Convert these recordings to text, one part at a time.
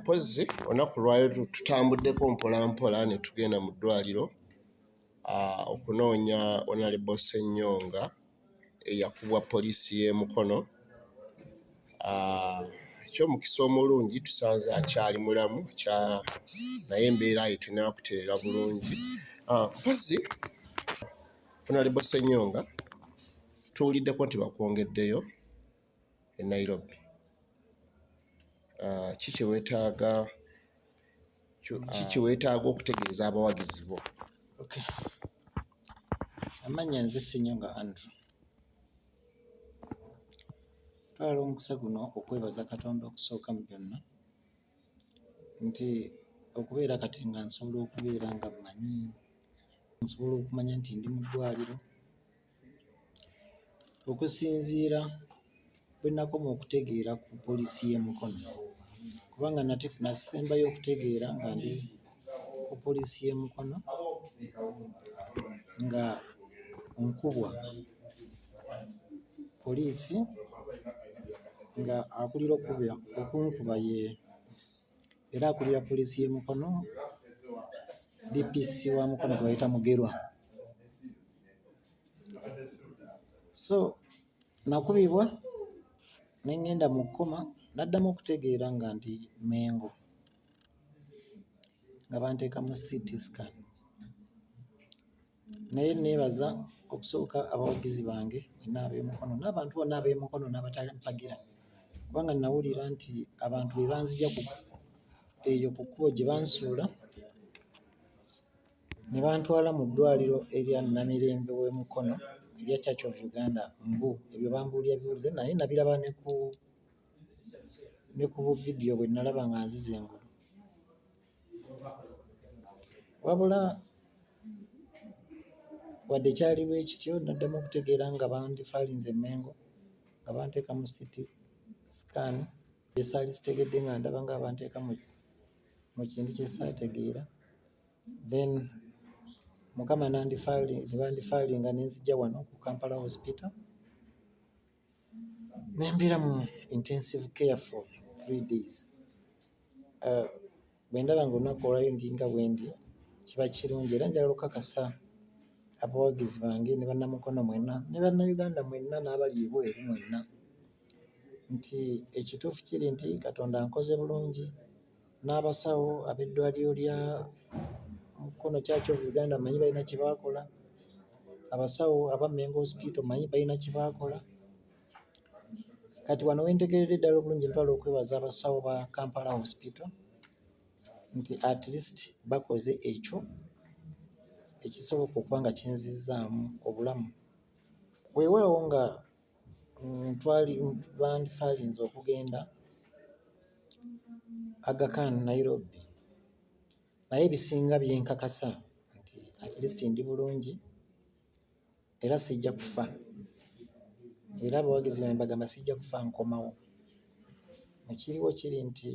mpozzi olunaku lwayo tutambuddeko mpolampola ne tugenda mu ddwaliro ah, okunoonya onalebo senyonga eyakubwa poliisi y'emukono ah, ekyomukisa omulungi tusanze akyali mulamu naye embeera ye tunakutereera bulungi ah, mpozzi onalebo senyonga tuwuliddeko nti bakwongeddeyo e Nairobi. Ah, ki kye weetaaga ki kye weetaaga okutegeeza abawagizi bo? Okay. Amanya nze Ssenyonga Andrew. Twala omukisa guno okwebaza Katonda okusooka mu byonna nti okubeera kati nga nsobola okubeera nga mmanyi nsobola okumanya nti ndi mu ddwaliro Okusinziira bwe nnakoma okutegeera ku poliisi y'e Mukono kubanga nate nasembayo okutegeera nga ndi ku poliisi y'e Mukono nga nkubwa poliisi nga akulira okukuba okunkuba ye era akulira poliisi y'e Mukono DPC wa Mukono gwe bayita Mugerwa. so nakubibwa ne ŋŋenda mu kkoma n'addamu okutegeera nga ndi Mmengo nga banteeka mu CT scan naye neebaza okusooka abawagizi bange bonna ab'emukono n'abantu bonna ab'emukono n'abatampagira kubanga nawulira nti abantu be banzija eyo ku kkubo gye bansuula ne bantwala mu ddwaaliro erya Namirembe w'e Mukono erya Church of Uganda mbu ebyo bambuulira biwulize naye nabiraba ne ku ne ku buvidiyo bwe nalaba nga nzize engulu wabula wadde kyali bwe kityo naddamu okutegeera nga bandifaalinze Mmengo nga banteeka mu siti sikaani esaali sitegedde nga ndaba nga banteeka mu kintu kye saategeera then mukama nebandifalinga nenzija wano ku Kampala hospital nembeera mu intensive care for three days uh, bwendaba nga olunaku olwayo ndinga bwendi kiba kirungi era njagala okukakasa abawagizi bange ne bannamukono mwenna ne bannayuganda mwenna n'abali ebweru mwenna nti ekituufu kiri nti katonda nkoze bulungi n'abasawo ab'eddwaliro lya Mukono Church of Uganda manyi balina kye baakola, abasawo aba Mengo Hospital manyi balina kye baakola. Kati wano we ntegeeredde ddala obulungi ntwala okwebaza abasawo ba Kampala Hospital nti at least bakoze ekyo ekisoboka okuba nga kinzizzaamu obulamu. Weewaawo nga bandifaalinze okugenda Aga Khan Nairobi naye ebisinga byenkakasa nti at least ndi bulungi era sijja kufa era abawagizi bange bagamba sijja kufa nkomawo ekiriwo kiri nti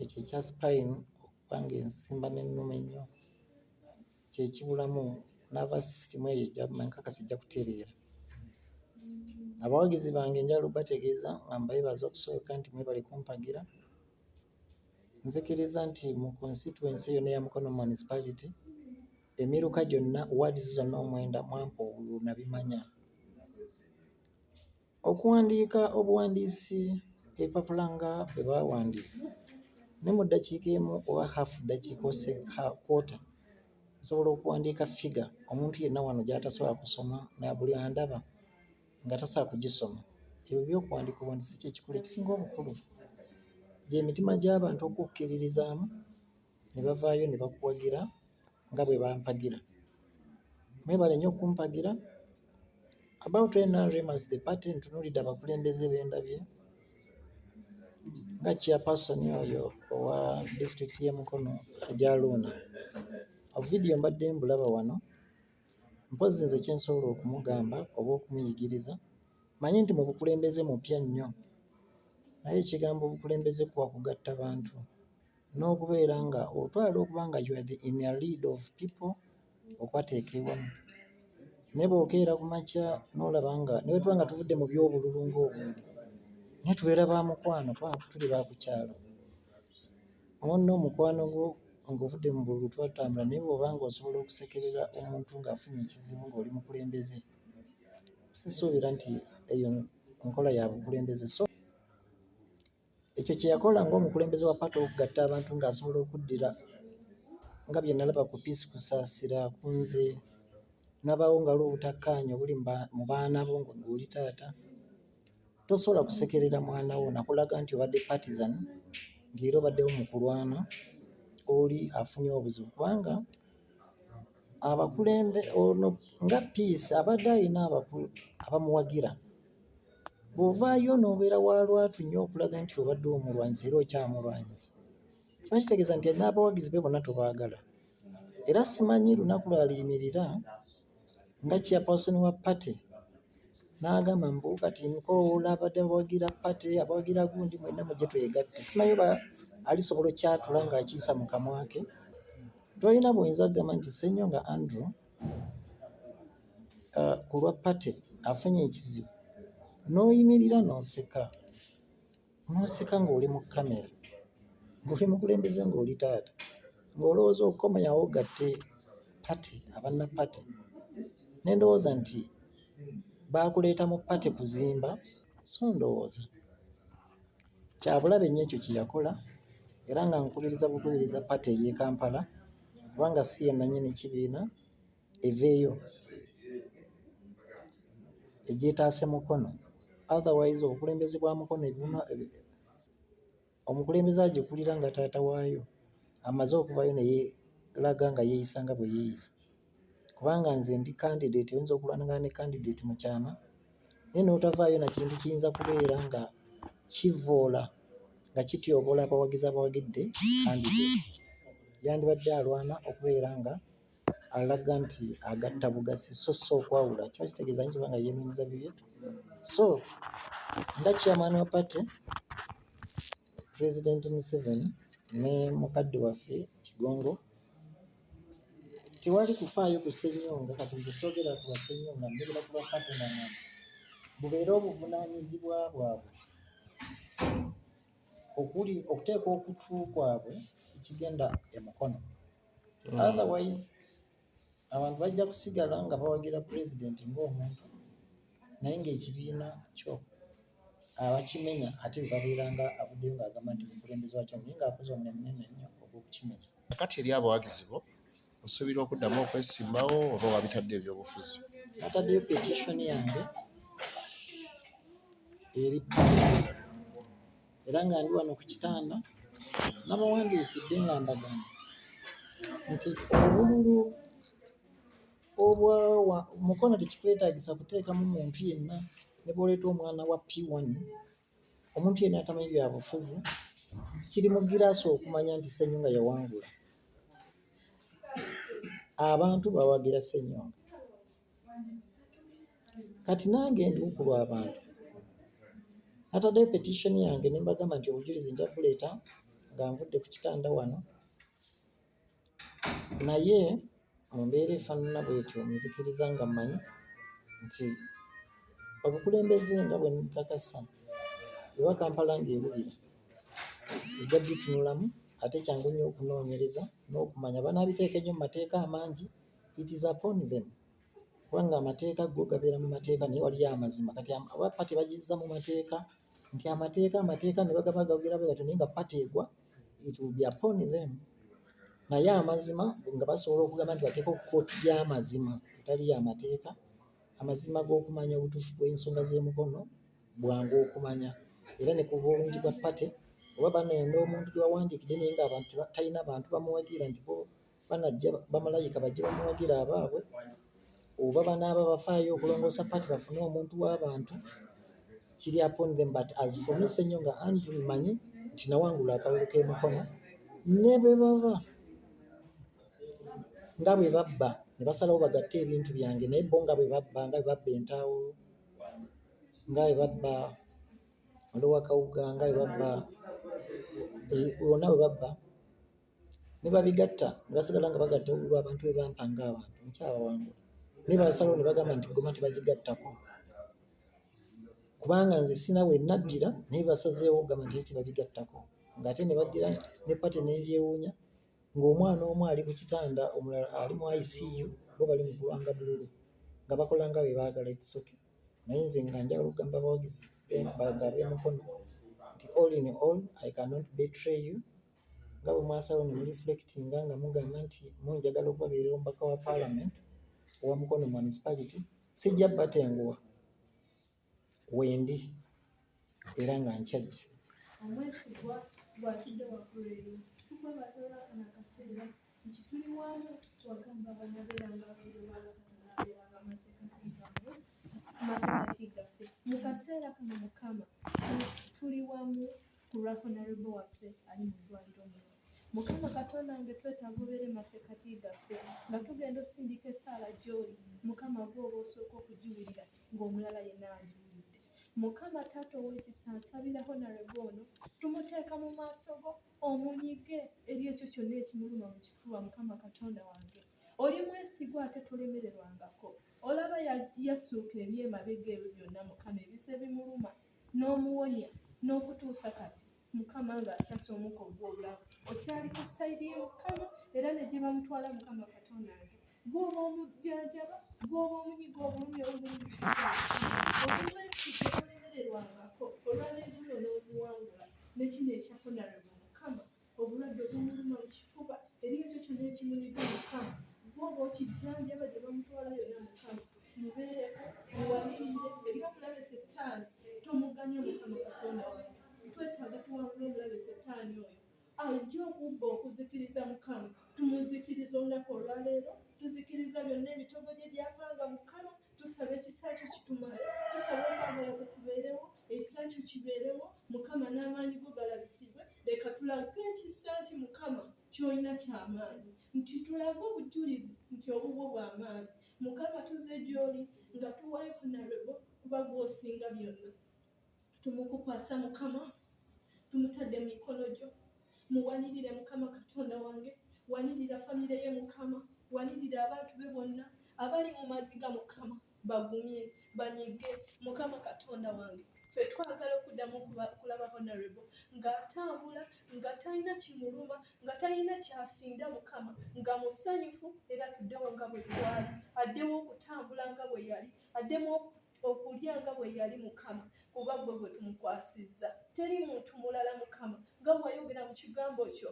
ekyo ekya spine okuba nga ensimba n'ennuma ennyo kyekibulamu nava system eyo enkakasi ejja kutereera abawagizi bange njala obategeeza nga mbebaza okusooka nti mwebale kumpagira nzikiriza nti mu constituency yona eya mukono municipality emiruka gyonna wards zonna omwenda mwampa obululu nabimanya Okuwandiika obuwandiisi empapula nga bwe baawandiika ne mu ddakiika emu oba half ddakiika ose kwota nsobola okuwandiika ffiga omuntu yenna wano gy'atasobola kusoma na buli andaba nga tasobola kugisoma. Ebyo by'okuwandiika obuwandiisi kye kikulu ekisinga obukulu gy'emitima gy'abantu okukkiririzaamu. ne bavaayo ne bakuwagira nga bwe bampagira. Mwebale nnyo okumpagira. About NRM as the party ntunuulidde abakulembeze be ndabye nga chairperson oyo owa disitulikiti y'e Mukono Ajaluuna. Obuvidiyo mbadde mbulaba wano mpozzi nze kye nsobola okumugamba oba okumuyigiriza manyi nti mu bukulembeze mupya nnyo naye ekigambo obukulembeze kuwa kugatta bantu. n'okubeera nga otwala okuba nga you are the in a lead of people okwateekebwa naye bwokeera ku makya n'olaba nga ne bwe tuba nga tuvudde mu by'obululu ng'obundi naye tubeera ba mukwano kuba tuli ba ku kyalo ono omukwano gwo ng'ovudde mu bululu twatambula naye bw'oba nga osobola okusekerera omuntu ng'afunye ekizibu ng'oli mukulembeze sisuubira nti eyo nkola ya bukulembeze so Ekyo kye yakola ng'omukulembeze wa paati okugatta abantu ng'asobola okuddira nga bye nalaba ku Peace Kusaasira ku nze nabaawo nga waliwo obutakkaanya obuli mu baana bo ng'oli taata tosobola kusekerera mwana wo nakulaga nti obadde partisan ng'era obaddewo mu kulwana oli afunye obuzibu kubanga abakulembe ono nga Peace abadde alina abamuwagira. bw'ovaayo n'obeera wa lwatu nnyo okulaga nti obadde omulwanyisa era okyamulwanyisa kiba kitegeeza nti n'abawagizi be bonna tobaagala era simanyi lunaku lwaliyimirira nga chairperson wa party n'agamba mbu kati mukowoola abadde abawagira party abawagira gundi mwenna mujje twegatte simanyi oba alisobola okyatula ng'akiisa mu kamwa ke tolina buyinza kugamba nti ssenyo nga andrew uh, ku lwa pate afunye ekizibu n'oyimirira n'oseka n'oseka ng'oli mu kamera ng'oli mukulembeze ng'oli taata ng'olowooza okukomayawo gatte pate abanna pate ne ndowooza nti baakuleeta mu pate kuzimba so ndowooza kyabulabe nnyo ekyo kye yakola era nga nkubiriza bukubiriza pate ey'e kampala kubanga si ye nannyini kibiina eveeyo egyetaase mukono otherwise obukulembeze bwa mukono ebibuna omukulembeze agikulira nga taata waayo amaze okuvayo neyelaga nga yeeyisa nga bwe yeeyisa kubanga nze ndi candidate oyinza okulwanagana ne candidate mu kyama naye n'otavaayo na kintu kiyinza kubeera nga kivvoola nga kityoboola abawagizi abawagidde kandide yandibadde alwana okubeera nga alaga nti agatta bugasi so so okwawula kiba kitegeeza nti kiba nga yeenonyeza bibye so nga chairman wa party president museveni ne mukadde waffe kigongo tewali kufaayo ku ssenyonga kati nze soogera ku bassenyonga njogera ku bapatena mwe bubeere obuvunaanyizibwa bwabwe okuli okuteeka okutu kwabwe ekigenda e mukono Mm. otherwise abantu bajja kusigala nga bawagira pulezidenti ng'omuntu naye ng'ekibiina kyo abakimenya ate bebabeera nga avuddeyo ng'agamba nti mukulembeze wakyo naye ng'akoze omulimu munene nnyo ogw'okukimenya Kakati eri abawagizi bo osuubira okuddamu okwesimbawo oba wabitadde ebyobufuzi? Nataddeyo petition yange eri era nga ndi wano ku kitanda nabawandiikidde nga mbagamba nti obululu obwa mukono tekikwetagisa kuteekamu muntu yenna ne bwoleeta omwana wa P1 Omuntu yenna atamanyi bya bufuzi kiri mu giraasi okumanya nti Ssenyonga yawangula. Abantu bawagira Ssenyonga. Kati nange ndi ku lw'abantu. Nataddeyo petition yange ne mbagamba nti obujulizi nja kubuleeta nga nvudde ku kitanda wano. naye mu mbeera efaanana bwetyo nzikiriza nga mmanyi nti obukulembeze nga bwe nkakasa oba Kampala ng'ewulira ejja bitunulamu ate kyangu nnyo okunoonyereza n'okumanya banaabiteeka ennyo mu mateeka amangi it is upon them kubanga amateeka go gabeera mu mateeka naye waliyo amazima kati oba party bagizza mu mateeka. nti amateeka amateeka ne bagaba gawulira bwe gatyo naye nga pati egwa it will be upon them naye amazima nga basobola okugamba nti bateeka ku kooti y'amazima etali y'amateeka amazima g'okumanya obutuufu bw'ensonga z'emukono bwangu okumanya era ne ku bulungi bwa pate oba banenda omuntu gye bawandiikidde naye ng'abantu talina bantu bamuwagira nti banajja bamalayika bajje bamuwagira abaabwe oba banaaba bafaayo okulongoosa paati bafune omuntu w'abantu kiri upon them but as for me senyo nga andrew manyi nti nawangula akalulu k'emikono ne bwe baba nga bwe babba ne basalawo bagatte ebintu byange naye bo nga bwe babba nga bwe babba entaawo nga bwe babba olowakawuga nga bwe babba eh, wonna bwe babba ne babigatta ne basigala nga bagatta olulwo abantu bwe bampa ng'abantu nkyabawangula naye baasalawo ne bagamba nti ggoma tebagigattako kubanga nze sina we naddira naye basazeewo okugamba nti tebabigattako ng'ate ne baddira ne pate n'ebyewuunya ng'omwana omu ali ku kitanda omulala ali mu ICU bo bali mu kulwanga bululu nga bakola nga bwe baagala ekisoke naye nze nga njagala okugamba abawagizi bagabe mukono nti all in all I cannot betray you nga bwe mwasalawo ne muliflectinga nga mugamba nti mu njagala okubabeerera omubaka wa parliament owa mukono municipality sijja batenguwa wendi era nga nkyajja omwesigwa bwatudde waggulu eyo tukwebaza olwafuna akaseera nti tuli wamu wagamba banabeeranga abairu balasatu nabeeranga amasekati gaffe amasekati gaffe mu kaseera kano mukama tuli wamu ku lwa honarebo waffe ali mu ddwaliro muno mukama katonda nge twetaaga obeere masekati gaffe nga tugenda osindika esaala gyoli mukama gwoba osooka okugiwulira ng'omulala yenna agiwulidde mukama taata ow'ekisa nsabira honarebo ono tumuteeka mu maaso go omunyige eri ekyo kyonna ekimuluma mu kifuba mukama katonda wange oli mwesigwa ate tolemererwangako olaba yasuuka ebyemabega ebyo byonna mukama ebise bimuluma ya n'omuwonya n'okutuusa kati mukama nga akyasa omuka ogw'obulamu okyali ku sayidi ye mukama era ne gye bamutwala mukama katonda nge gwoba omujjanjaba gwoba omunyiga obulumi obulumiobulemererwangako olwalegulo n'oziwangula ne kino ekyakonarebo mukama obulwadde obumuluma mu kifuba eri ekyo kyona ekimunyiga mukama gwoba okijjanjaba gye bamutwala yona mukama mubeereko muwalirire eby'obulabe settaani tomuganye mukama katonda wange twetaaga tuwangula obulabe settaani oyo ajja okubba okuzikiriza mukama tumuzikiriza olunaku olwaleero tuzikiriza byonna ebitogo gye byapanga mukama tusaba ekisa kyo kitumale tusaba okwagala kukubeerewo ekisa kyo kibeerewo mukama n'amaanyi go galabisibwe leka tulage ekisa nti mukama kyolina kyamaanyi nti tulage obujulizi nti obubwo bwamaanyi mukama tuze gyoli nga tuwayo kunalebo kuba gwosinga byonna tumukukwasa mukama tumutadde mu mikono gyo muwanirire mukama katonda wange wanirira famire ye mukama wanirira abantu be bonna abali mu maziga mukama bagumye banyige mukama katonda wange fe twagala okuddamu kulaba honarebo ng'atambula nga talina kimuluma nga talina kyasinda mukama nga musanyufu era tuddewo nga bwe twali addewo okutambula nga bwe yali addemu okulya nga bwe yali mukama kuba gwe gwe tumukwasizza teri muntu mulala mukama nga wayogera mu kigambo kyo